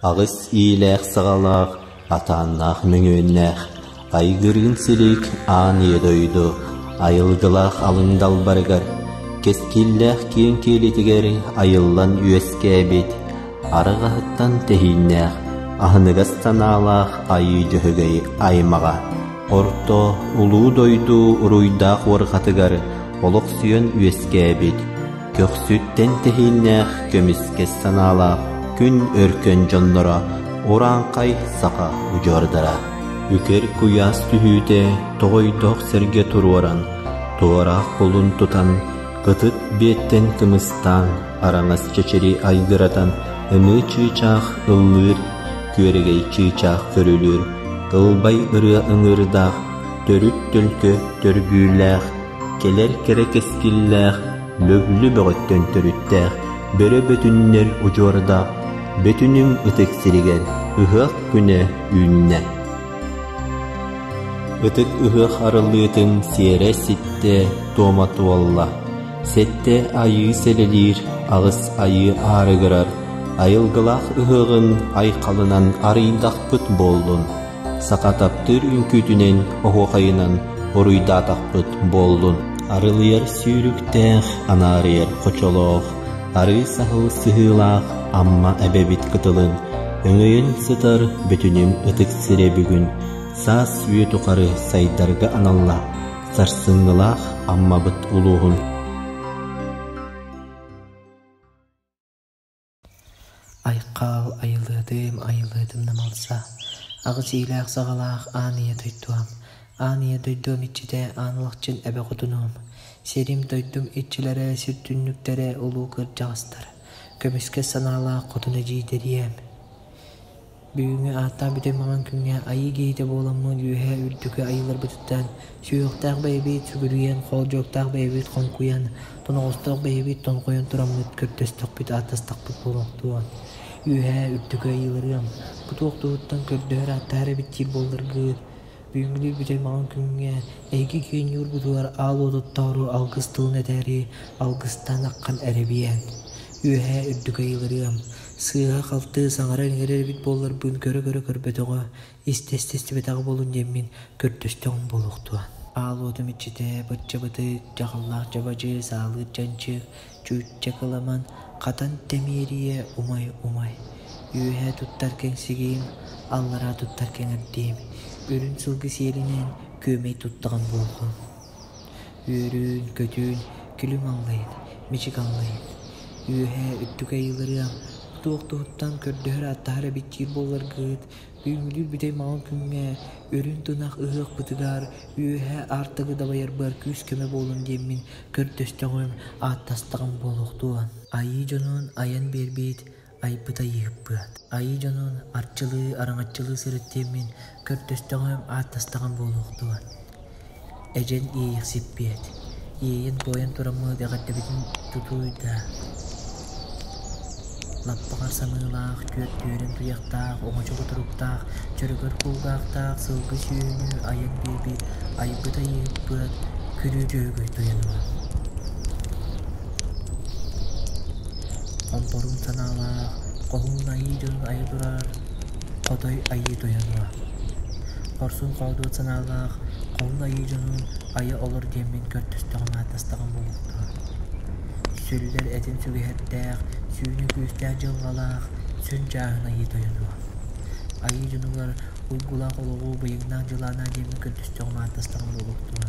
Аҕыс иилээх-саҕалаах, атааннаах мөҥүөннээх, айгырыын силик аан ийэ дойду айылгылаах алын далбарыгар, кэскиллээх киэҥ киэлитигэр айыллан үөскээбит, арыгаһыттан тэһииннээх, аһыныгас санаалаах айыы дьөһөгөй аймаҕа Орто, улуу дойду уруйдаах уорҕатыгар олохсуйан үөскээбит, көхсүт тэнтэһииннээх көмүскэс санаалаах күн өркөн дьонноро урааҥхай саха удьуордара үкэр куйаас түһүүтэ тоҕойдоох сэргэ туруоран туораах кулун тутан Ытык биэттэн кымыстаан, араҥас чэчири айгыратан, ыныы чыычаах ыллыыр, күөрэгэй чыычаах көрүлүүр, тылбай ырыа ыҥыырдаах, төрүт төлкө төргүүлээх, кэлэр кэрэ кэскиллээх, лөглү бөҕөттөн төрүттээх, бөрө бөтүннэр удьуордаах, бөтүнүм ытык сиригэр ыһыах күнэ үүннэ. Ытык ыһыах арыллыытын сиэрэ ситтэ, туома туолла. Сэттэ айыы сэлэлиир, аҕыс айыы аарыгырар, айылгылаах ыһыаҕын айхалынан арыйдахпыт буоллун. Саха таптыыр үҥкүүтүнэн, оһуохайынан уруйдаатахпыт буоллун. Арылыйар сүүрүктээх, анаарыйар хочолоох, арыый саһыл сыһыылаах Амма эбэбит кытылын өҥөйөн сытар бүтүнүн ытык сирэ бүгүн саас үйэ тухары сайдарга аналлаах сарсыҥҥылаах Аммабыт улууһун Айхал, Айылыатым, Айылыатым намалса. Аҕыс иилээх-саҕалаах аан ийэ дойдуом. Аан ийэ дойдуом иччитэ аан улахчын эбэ хотунуом. Сирим-дойдум иччилэрэ, сир түннүктэрэ улуу кырдьаҕастар. Көмүскэс санаалаах хотун эдьиийдэрием. Бүгүҥҥү ааттаах бүтэй маҥан күҥҥэ айыы киһитэ буоламмын үөһээ үрдүкү айыыларбытыттан сүһүөхтээх бэйэбит сүгүрүйэн, хоодьуоктаах бэйэбит хоҥкуйан, тоноҕостоох бэйэбит тоҥхойон тураммыт көрдөстөхпүт, ааттастахпыт буолуохтуо. Үөһээ үрдүкү айыыларыам бу туох туһуттан көрдөһөр-ааттаһар эбит диир буолларгыт, бүгүҥҥү бүтэй маҥан күҥҥэ эһиги киэҥниурбутугар аал уотуттаҕырыы алгыс тылын этээри алгыстаан ахан эрэбиэн. Үөһээ үрдүкү айыыларыам Сыыһа-халты, саҥара иҥэрэр эбит буолларбын көрө-көрө көрбөтөҕө, истэ-истэстибэтэҕэ буолун диэммин, көрдөстөҕүм буолуохтуо. Аал уотум иччитэ, бачча-бытыык, дьаҕаллаах дьабадьы, саалыыр дьанчык, чүччэ кыламан, хатан тэмиэрийэ умай-умай. Үөһэ туттар кэҥсигиим, аллараа туттар кэҥэрдиим. Үрүн сылгы сиэлинэн күөмэй туттаҕым буолуо. Үөрүүн-көтүүн күлүм аллайыт, мичик аллайыт, үөһээ үрдүк айыыларыам туох-туһуттан көрдөһөр-ааттаһар эбиттиир буолларгыыт, үүнүүлүүр бүтэй маҕан күҥҥэ үрүн тунах ыһыах бытыгар үөһээ аартагы дабайарбар күүс-көмө буолуом диэммин көрдөстөҕүм, ааттастаҕым буолуохтуун. Айыы дьонун айан биэрбит айбыт айыыһыппыат. Айыы дьонун арчылыы, араҥаччылыы сырыттиэммин, көрдөстөҕүм, ааттастаҕым буолуохтуо. Эдьэн иэйиэхсиппиэт. Иэйэн-буойан тураммыт эҕэрдэбитин тутуй да лаппаҕар саныылаах, түөрт түөрэн туйахтаах, оҥочо кутуруктаах, чөрөгөр кулгаахтаах сылгы сүөһүнү айан биэрбит айбыт айыыппыат күлүү дьөһөгөй тойонума. Ампорун санаалаах хоһуун айыы дьонун айа турар хотой айыы тойон баҕа. Хорсун хоодуот санаалаах хоһуун айыы дьонун айа олор диэммин көрдөстөҕүм ааттастаҕым буолуохтаах. Сүллэр этин сүгэһэрдээх сүүнү күүстээх дьылҕалаах сүн дьааһын айыы тойон баҕа. Айыы дьонугар уйгулаах олоҕу быйаҥнаах дьылаанаа диэммин көрдөстөҕүм ааттастаҕым буолуохтума.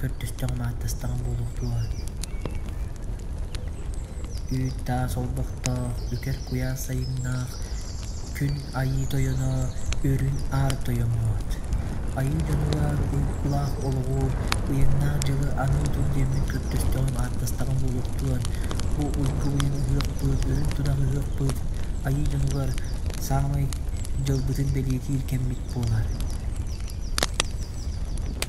көрдөстөҕү-мааттастаҕыҥ буолуохтуо үүт-таас олбохтоох үкэр куйаас сайыҥнаах күн айыы тойоно үрүн аар тойоммот айыы дьонугар улаах олоҕу ыйыҥнаах дьылы аны отут диэммин көрдөстөҕүм-ааттастаҕым буолуохтуо бу уйгу ыйылаһыахпыт үрүн тунаһыһыахпыт айыы дьонугар саамай дьылбытын бэлиэтиир кэммит буолар